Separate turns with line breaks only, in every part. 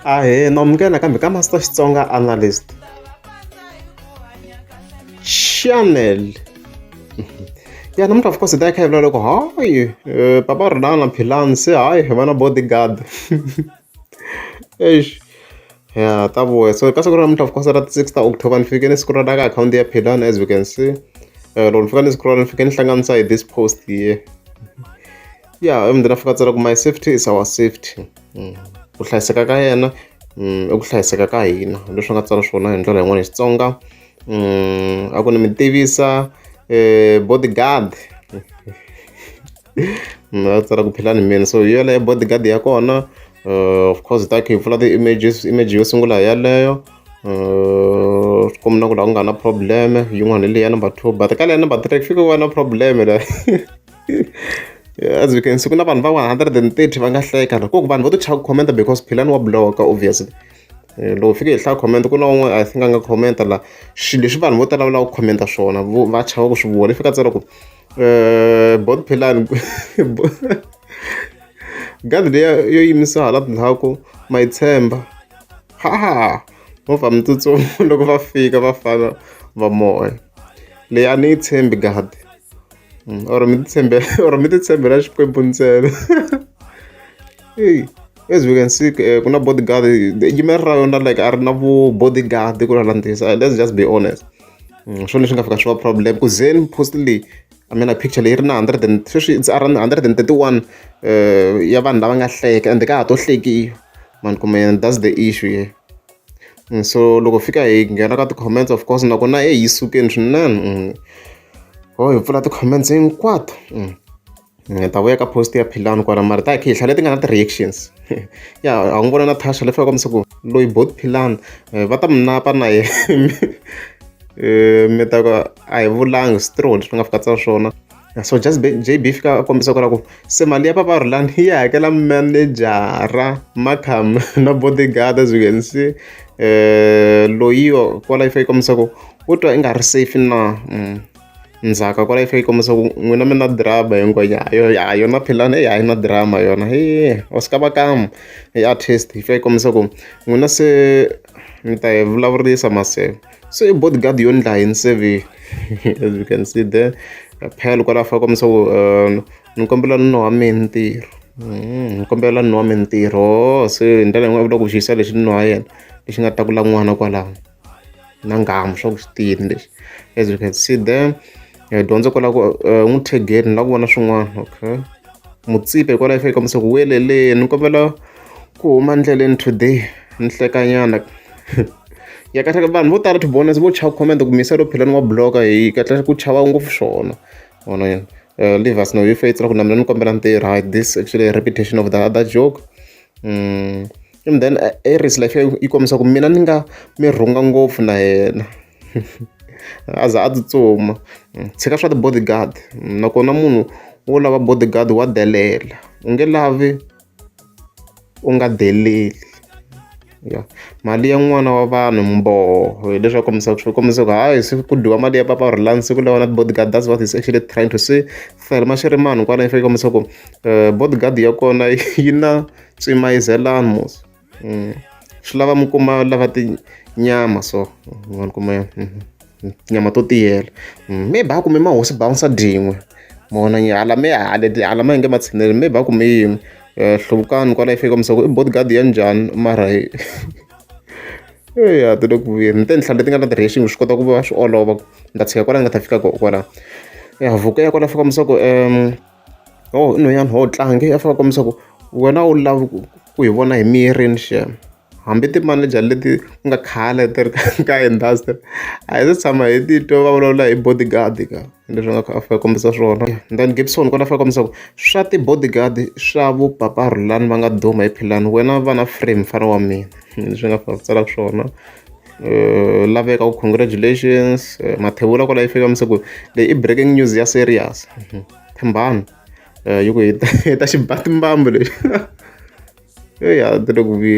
Ahee, no amukela nakambe ka Master Xitsonga Analyst channel ya namuntlha of course hi ta yi kha hi vula loko hayi eh, papa rilana philani se hayi hi va na bodyguard eish ya ta vuya so ka siku ra namuntlha of course ra ti six ta october ni fike ni siku ra ka akhawunti ya philani as we can see eh, loko ni fika ni siku ra ni fike ni hlanganisa hi this post here ya emndzeni a fika a tsala ku my safety is our safety ku hlayiseka ka yena i ku hlayiseka ka hina leswi nga tsala swona hi ndlela yin'wana hi Xitsonga a ku ni mi tivisa bodyguard a tsala ku philani mina so hi yeleyo bodyguard ya kona uh, of course ta khe hi pfula ti-images image yo sungula hi yaleyo uh, swi kombina ku laha ku nga na probleme yin'wana hi leya number two but ka leya number three ku fike ku va na probleme la as you can see ku na vanhu va 130 va nga hleka na koku vanhu vo ti chava ku commenta because philani wa bloka obviously eh, loko fike hi hlaya comment ku na un'we i think a nga commenta la swilo leswi vanhu vo tala va lava ku commenta swona va chava ku swi vona i fika tsela ku eh, bot philani gadi leya yo yimisiwa hala tindhaku ma yi tshemba ha ha movha mi tsutsuma loko va fika va fana va moya leyi a ni yi tshembi gadi Mm, or mi titshembela or mi titshembela xikwembu ntsena hey as we can see eh, ku na bodyguard yimela ra yona like a ri na vu bodyguard ku lalandisa eh, let's just be honest mm, swona leswi nga fika swi va problem ku zen postly I mean, a picture leyi ri na 100 sweswi it's around 131 eh, ya vanhu lava nga hleka and ka ha to hlekiwa mani kumbe that's the issue here mm, so loko fika hi nghena ka ti-comments of course nakona e yi sukeni swinene ho hi pfula ti-comments hinkwato ni heta vuya ka post ya Philani kwala mara ta hi kha hi hlalela leti nga na ti-reactions ya a n'wi vona na Tasha leswi va kombisa ku loyi both Philani eh, va ta mi napa na yena eh, mi ta ku a hi vulangi straw leswi nga fika tsa swona so just JB fika a kombisa ku la ku se mali ya papa Rulani yi hakela manejara makham na bodyguard as you can see eh, loyiwa kwala yi fake kombisa ku Wo twa i nga ri safe na ndzhaka kwala yi fika yi kombisa ku n'wina mi na drama hi ngwenya ha yo ya ha yona philani heyi a yi na drama yona he wa swi kava kamu hi artist yi fika yi kombisa ku n'wina se mi ta hi vulavurisa maseve se i body guard yo ndla yini se ve as you can see there phela kwala fika kombisa ku ni kombela nuna wa mehe ntirho ni kombela nuna wa me ntirho se hi ndlela yin'wani u vula ku xi yisa lexi nuna wa yena lexi nga ta kula n'wana kwalano. na nghamu swa ku swi tiyini leswi as you can see there eh, dyondzo kwala ku eh, n'wi thegeni la ku vona swin'wana okay mutsipe hikwala yi fake kombisa ku weleleni ni kombela ku huma ndleleni today ni hlekanyana ya kahle vanhu vo tala tibonus vo chava comment ku misa ro phela ni wa bloka hi kahle ku chava ngopfu swona vona yena eh, leave us no you faith ku na mina ni kombela ntirho hi this actually repetition of the other joke mm. and then eh, i race life yi kombisa ku mina ni nga mi rhunga ngopfu na yena a za a tsutsuma tshika swa ti-bodyguard nakona munhu wo lava bodyguard wa delela u nge lavi u nga deleli ya mali ya n'wana wa vanhu mboho hileswi a kombisaka swi kombisa ku hayi se ku dyiwa mali ya papa rulani siku lawa na bodyguard that's what is actually trying to say fele ma swi ri manhu kwala i faneke kombisa ku eh, bodyguard ya kona yi na Tsemaizelani mos swi lava mi kuma lava tinyama so ma ni kuma tinyama to tiyela maybe a kume ma hosi bounce byin'we ma vona njhe hala mehe hala hala ma nge ma tshineli maybe a kume yin'we hluvukani kwala yi fika mi swa ku i bodyguard ya njhani mara heyi eya ti le ku vuyeni ni te ni tlhela ti nga na ti-railing swi kota ku va swi olova ku ni ta tshika kwala ni nga ta fika kona kwala ya voko ya kona fika mi swa ku . Yoh i nhwanyana wo tlange a fanele a kombisa ku wena a wu lavi ku ku hi vona hi mirini shame hambi ti-manager leti ku nga khale ti ri ka industry a hi se tshama hi ti twa va vulavula hi bodyguard ka leswi nga kha a fanele a kombisa swona then Gibson kona a fanele a kombisa ku swa ti-bodyguard swa vo papa Rhulani va nga duma hi philani wena va na frame mfana wa mina leswi nga fanele a ku tsala swona. laveka ku congratulations mathevula kwala yi fika mi se ku leyi i breaking news ya serious thembani yi ku hi ta hi ta xibatimbambu lexi eya ti le ku vi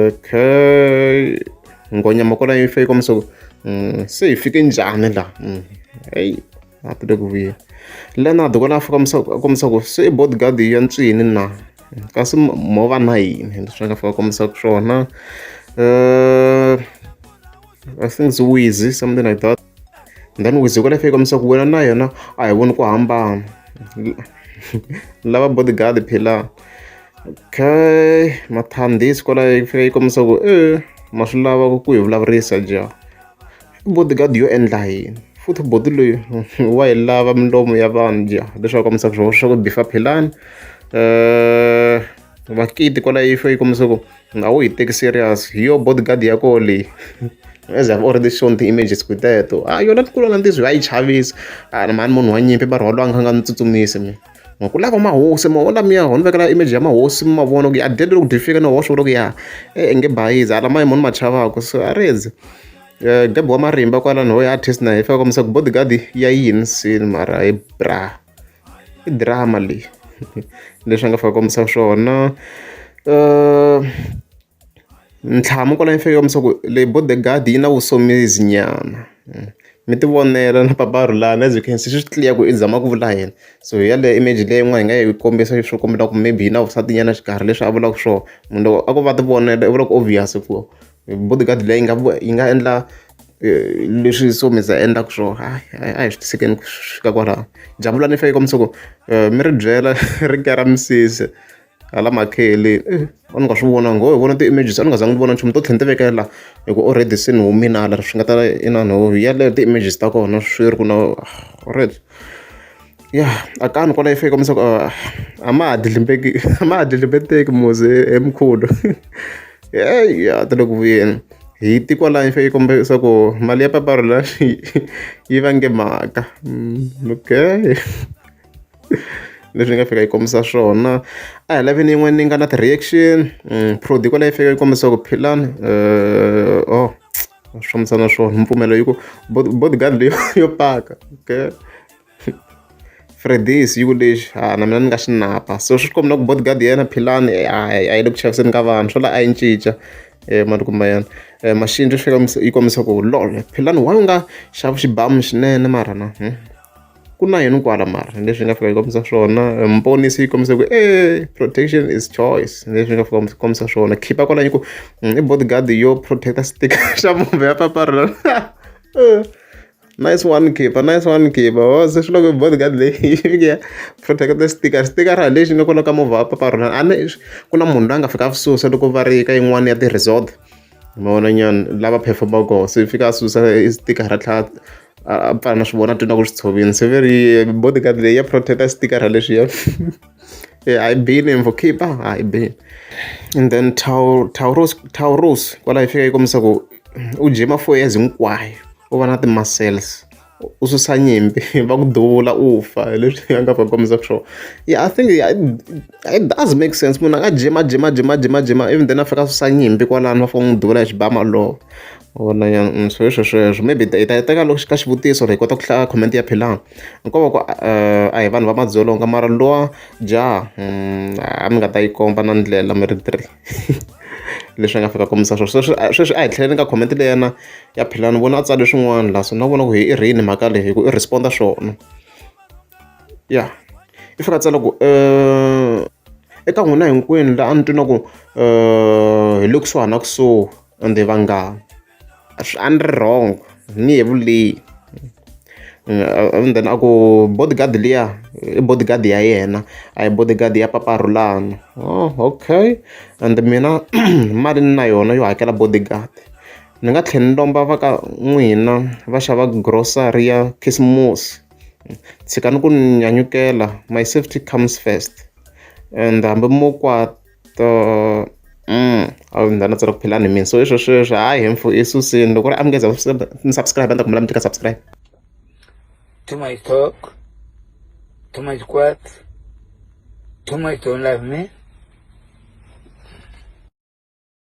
okay nghonyama kwala yi fika mi se ku se hi fike njhani la eyi. a ti le ku vuya leonard kona a fika kombisa ku se i bodyguard ya ntswini na kasi mo va na yini leswi va nga fika kombisa ku swona uh, i think it's wizy something like that and then wizy kona fika kombisa ku wena na yena a hi voni ku hambana lava bodyguard phila okay mathandisi kwalayo yi fika yi kombisa ku e ma swi lava ku hi vulavurisa ja Bodyguard yo endla yini? Futhi buti loyi wa yi lava milomu ya vanhu dya leswaku kombisa ku swa ku bifa philani. Makiti kwala yi fanele yi kombisa ku a wu yi teki serious, hi yona bodyguard ya koho leyi. As I've already shown ti-images ku hi teto. A yona kulu na ntiyiso a yi chavisa, a ni mhani munhu wa nyimpi va rhwala a ni kha ni nga n'wi tsutsumisi mina. nga ku lava mahosi maho lamiya ho ni vekela image ya mahosi mi mavona ku ya dede loko dye fika ni hoxa ku loko ya e eh, nge bayizi hala maye mo ni ma chavaka so a ri eze um eh, gabi wa marimba kwala ni hoya artist na hi fika komisa ku bodyguard ya yini sini mara hi bra i drama leyi leswi a nga fika komisa swona um Ntlhamu kwala henhla ka misava leyi Bodegard yi na Vusomizi nyana mi ti vonela na Paparhulani as you can see swi clear ku i zama ku vula yini so hi yaleyo image leyi yin'wana hi nga yi kombisa leswi kombela ku maybe yi na vusati nyana xikarhi leswi a vulaka swona munhu loko a ko va ti vonela u vula ku obvious ku Bodegard leyi nga yi nga endla leswi Somizi a endlaka swona hayi hayi a hi swi tisekeni ku fika kwalano Jabulani i fanekele yi kombisa ku mi ri byela ri kera misisi. hala makheleni i a ni nga swi vona nghohe vona ti-images a ni nga zanga ni vona nchumu to tlhe ni ti vekela la hi ku already se ni humile hala swi nga ta inana ho yeleyo ti-images ta kona swi ri ku na alright ya a kani kwala yi fika kombisa ku a ma ha dlidlimbeki a ma ha dlidlimbeteki muze he mkhulu heyi ya ta le ku vuyeni hi ti kwala yi fike yi kombisa ku mali ya paparula yi vange mhaka okay. leswi ni nga fika yi kombisa swona a hi lavini yin'wana ni nga na ti-reaction prod kwala yi fika yi kombisa ku philani oh swi fambisa na swona mpfumelo yi ku bodyguard leyo yo paka okay Freddy's yi ku lexi ha na mina ni nga xi napa so swi komba na ku bodyguard ya yena philani a yi le ku chaviseni ka vanhu swo la a yi cinca mali kumbe yena machine swi fika yi kombisa ku lol philani why u nga xavi xibamu xinene marhana . ku na yini kwala mara leswi nga fika yi kombisa swona mponisi yi kombisa ku e protection is choice leswi nga fika kombisa swona khipa kwala yi ku mm, i bodyguard yo protecta sticker xa mumbe ya paparula eh, nice one khipa nice one khipa o oh, se swi loko bodyguard leyi fike ya protecta sticker sticker ha lexi nga kwala ka movha ya paparula a ni ku na munhu loyi a nga fika a swi susa loko va ri ka yin'wana ya ti-resort ma vona nyana lava perform-aka kona se fika a susa e sticker ra tlhaka a a pfala na swi vona a twa ingaku swi tshovile se ve ri body guard leyi ya protect-a sticker ra lexiya e a yi bile info khipha a yi bile and then Tau- Tauros Tauros kwalaho yi fika yi kombisa ku u dye mafurha ya hinkwayo u va na ti-muscles. u susa nyimpi va ku duvula u fa hi leswi a nga va kombisaka swona yeah i think it does make sense munhu a nga jima jima jima jima jima even then a fika a susa nyimpi kwalano va fika n'wi duvula hi xibama lowo vona ya mm, swo leswo sweswo maybe hi ta teka loko ka xivutiso hi kota ku hlaya comment ya philanga nkovo ku eh, a hi vanhu va madzolonga mara lowa jaha mm, a mi nga ta yi komba na ndlela mi ri three leswi a nga fika kombisa swona sweswi sweswi a hi tlheleni ka comment leyi yena ya philani vona a tsale swin'wana laha so na vona ku hi i rini mhaka leyi hi ku i responda swona ya i fika tsala ku um eka n'wina hinkwenu laha a ni twi na ku um hi le kusuhana kusuhi Ende vanghana a swi a ni ri wrong ni yevuleyi and then a ku bodyguard liya i bodyguard ya yena a hi bodyguard ya papa Rhulani oh okay and mina mali ni na yona yo hakela bodyguard ni nga tlhela ni lomba va ka n'wina va xava grocery ya khisimusi tshikani ku ni nyanyukela my safety comes first and hambi mo . to a wu ndzi tsala ku phela ni mina so i swo sweswo hayi hemfu i susini loko ri amukeza ni subscribe a ni ta kumela mi tika subscribe too much
talk too much quiet too much don't love me